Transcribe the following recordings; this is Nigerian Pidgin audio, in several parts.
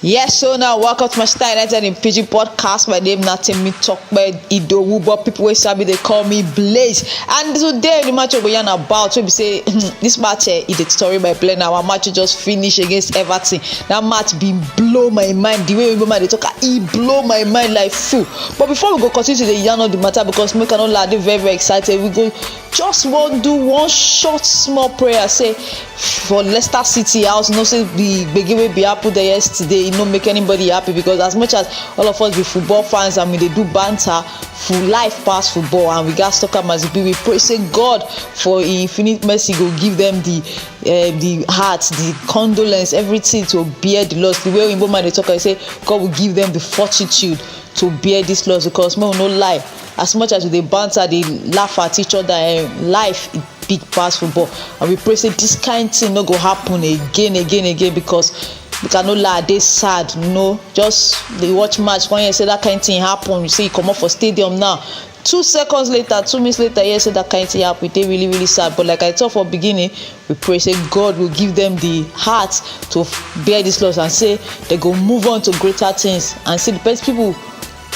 Yes, so now welcome to my Star United in PG podcast. My name not Timmy Talkbed Idowu, but people will sabi they call me Blaze. And today the match we yarn about we be say this match eh, is the story by play now. Our match just finish against Everton. That match been blow my mind. The way we man they talk, ah, he blow my mind like fool. But before we go continue to the yarn of the matter because make I know lad very very excited. We go just wan do one short small prayer say for leicester city house you know say the gbege wey bin happen there yesterday e no make anybody happy because as much as all of us be football fans and we dey do banter for life pass football and we gats talk am as e be we pray say god for im infinite mercy go give them the uh, the heart the condolence everything to bear the loss the way oyinbo man dey talk am say god will give them the fortitude to bear this loss because make we no lie as much as we dey banter dey laugh at each other eh life e big pass football and we pray say this kind thing no go happen again again again because make i no lie i dey sad you know just dey watch match come hear say that kind thing happen you say you comot for stadium now two seconds later two minutes later hear say that kind thing happen e dey really really sad but like i talk for beginning we pray say god will give them the heart to bear this loss and say they go move on to greater things and see the best people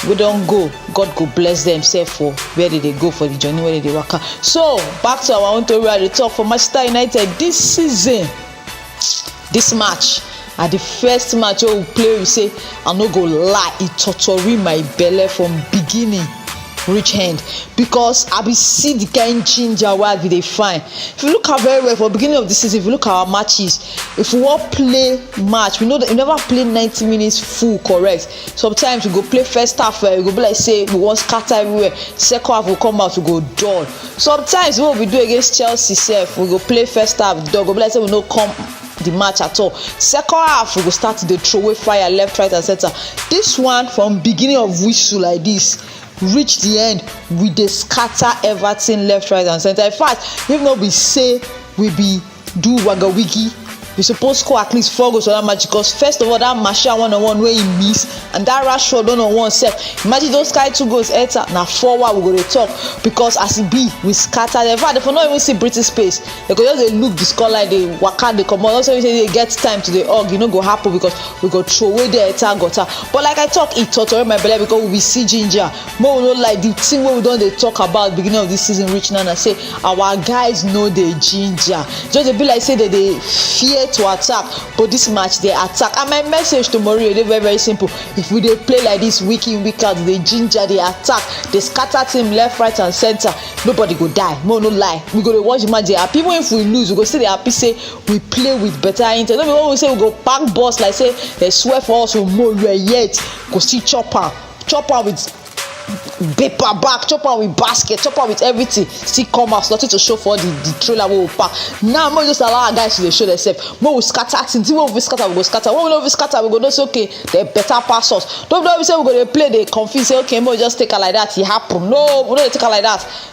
wey don go god go bless dem sef for where they dey go for the journey wey they dey waka so back to our own tori wey i dey talk for manchester united this season this match na the first match wey we play we say i no go lie e tortori my belle from beginning reach end because i be see the kind ginger wey i be dey find if you look am very well for beginning of the season if you look our matches if we wan play match we no we never play ninety minutes full correct sometimes we go play first half eh, e go be like say we wan scatter everywhere second half go come out we go dull sometimes wey we do against chelsea sef we go play first half dull go be like say we no come the match at all second half we go start to dey throw away fire left right and center this one from beginning of whistle like this reach the end we dey scatter everything left right and center in fact if no be say we be do waga wiggy we suppose score at least four goals for that match because first of all that martial one on one wey he miss and that rashford one on one sef imagine those kind two goals enter na four wa we go dey talk because as e be we scatter dem in fact dem for no even see breathing space dem go just dey look the scoreline dey waka dey comot also mean say dey get time to dey hug e no go happen because we go throway there enter gutter but like i talk e totori my belle because we be see ginger make we no lie the thing wey we don dey talk about beginning of this season reach now na say our guys no dey ginger just dey be like say dem dey fear to attack but this match dey attack and my message to Mourinho dey very very simple if we dey play like this week in week out dey ginger dey attack dey scatter team left right and center nobody go die make we no lie we go dey watch the match dey happy even if we lose we go still dey happy say we play with better intent no be when we say we go pack boss like say dem swear for us omo you are yet go still chop am chop am with paper bag chop am with basket chop am with everything still come house nothing to show for the the trailer wey we pack now make we just allow our guys to dey show themselves make we scatter things wey we fit scatter we go scatter wey we no fit scatter we go know say okay dem better pass us no be no be say we go dey play dey confuse say okay make we just take am like that e happen no we no dey take am like that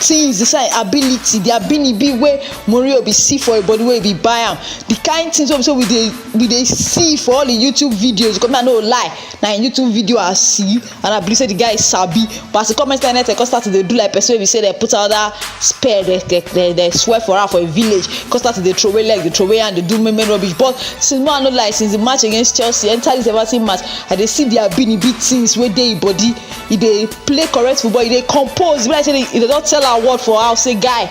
tins inside ability di abinibi wey morio be see for e body wey be buy am di kind tins wey be say we dey we dey see for all im youtube videos because me i no go lie na im youtube video i see and i believe say di guy sabi but as e come enter anything come start to dey do like person wey be say dem put another spell dem dem dem swear for am for im village come start to dey throway leg dey throway hand dey do many many rubbish but since me i no lie since di match against chelsea enter dis everton match i dey see di abinibi tins wey dey im body e dey play correct football e dey compose e be like say e don tell am word for house say guy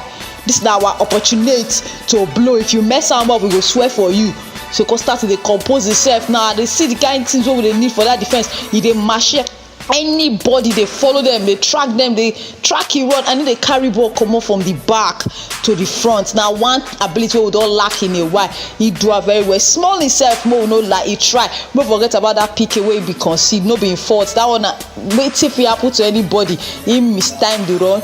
this na our opportunity to blow if you mess am up we go swear for you so come start to dey compose himself now i dey see the kind things wey we dey need for that defense e dey machine anybody dey follow them dey track them dey track e run and e dey carry ball comot from the back to the front na one ability wey we don lack in a while he do am very well small himself make we no lie he try no forget about that pk wey he be concede no be him fault that one na wetin fit happen to anybody he miss time dey run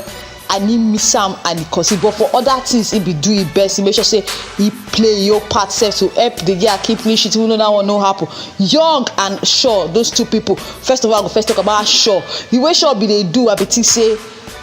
and he miss am and he concede but for other things he be do him best he make sure say he play your part sef to help the girl keep clean sheet even though that one no happen young and sure those two people first of all i go first talk about sure the way sure be dey do i be think say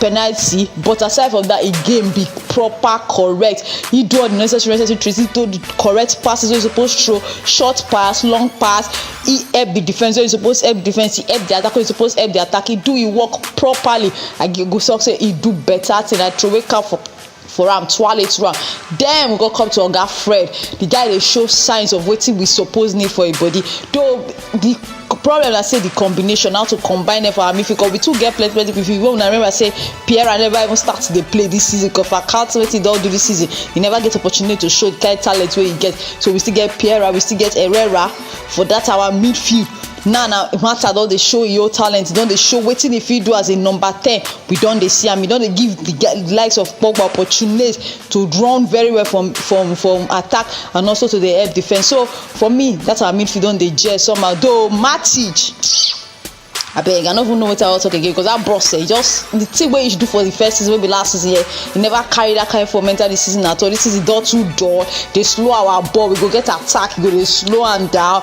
penalty but aside from that, e game be proper correct he do all the necessary necessary tricks he throw the correct passes wey he suppose throw short pass long pass he help the defence wey he suppose help defence he help the attack wey he suppose help the attack he do him work properly i go talk say he do better thing i throway cap for for am twale twale then we go come to oga fred the guy dey show signs of wetin we suppose need for a body though the problem na say the combination how to combine them for our midfield because we too get plenty plenty midfield wey una remember say pierre never even start to dey play this season because for account wetin he don do this season he never get opportunity to show the kind talent wey he get so we still get pierre we still get herrera for that our midfield now na martha don dey show e own talent e don dey show wetin e fit do as a number ten we don dey see am e don dey give the guy the likes of pogba opportunate to run very well from from from attack and also to dey help defence so for me that our midfield don dey gel somehow though matic abeg i no even know wetin i wan talk again because that bros eh just the thing wey he do for the first season wey be last season eh he never carry that kind form enter this season at all this season don too dull dey slow our ball we go get attack we go dey slow am down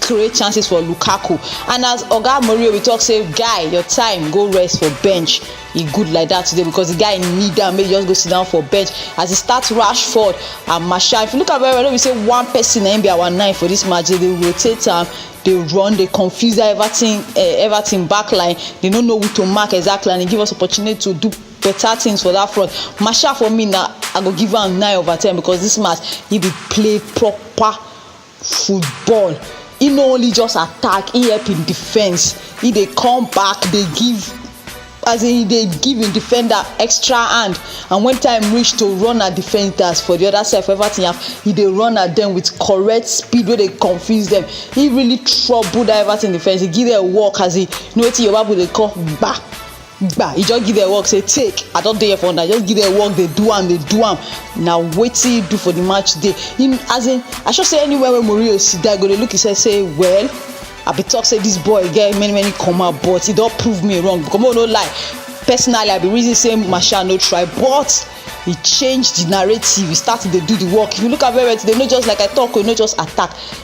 create chances for lukaku and as oga mourinho we talk say guy your time go rest for bench e good like that today because the guy need am make e just go sit down for bench as e start rashford and martial if you look am very well no be say one person na im be our nine for this match they dey rotate am dey run dey confuse that everton uh, eh, everton back line they no know who to mark exactly and e give us opportunity to do better things for that front martial for me na i go give am nine over ten because this match he dey play proper football he no only just attack he help him defense he dey come back dey give as in he dey give him defender extra hand and when time reach to run at defenders for the other side for everything happen he dey run at them with correct speed wey dey confuse them he really trouble that everything defense he give them work as he you know wetin Yoruba people dey call gba gba e just give dem work say take i don dey here for una just give dem work dey do am dey do am na wetin he do for the match day him as in i sure say anywhere wey Mourinho sit down go dey look himself say well i be talk say this boy get many many comma but he don prove me wrong because make no lie personally i be reason say Martial no try but he change the narrative he start to dey do the work if you look at very well today no just like i talk o no just attack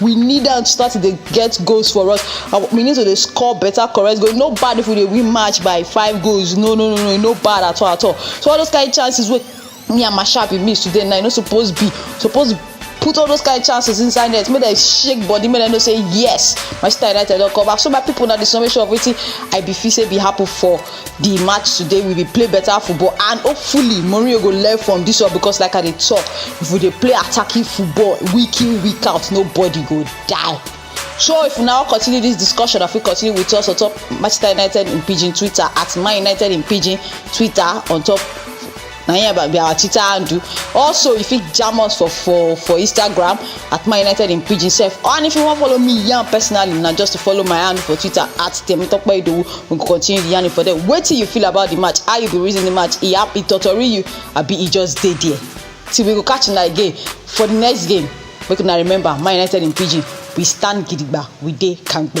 we need am to start to dey get goals for us and we need to dey score better correct goal no bad if we dey win match by five goals no no no no no bad at all at all so all those kind of chances wey me and masha be miss today now e no suppose be suppose put all those kind of chances inside net make dem shake body make dem know say yes manchester united don come back so my people na the summation of wetin i be feel say be happen for di match today we be play better football and hopefully mourinho go learn from this one because like i dey talk if we dey play attacking football week in week out nobody go die so if we now continue this discussion i fit continue with us on top manchester united in pidgin twitter at man united in pidgin twitter on top na here about be our twitter handle also you fit jam us for for for instagram at my united in pidgin sef and if you wan follow me yarn personally na just to follow my handle for twitter at temitope idowu we go continue the yarning for there wetin you feel about the match how you go reason the match e happy totori you abi e just dey there till we go catch una again for the next game make una remember my united in pidgin we stand gidigba we dey kampe.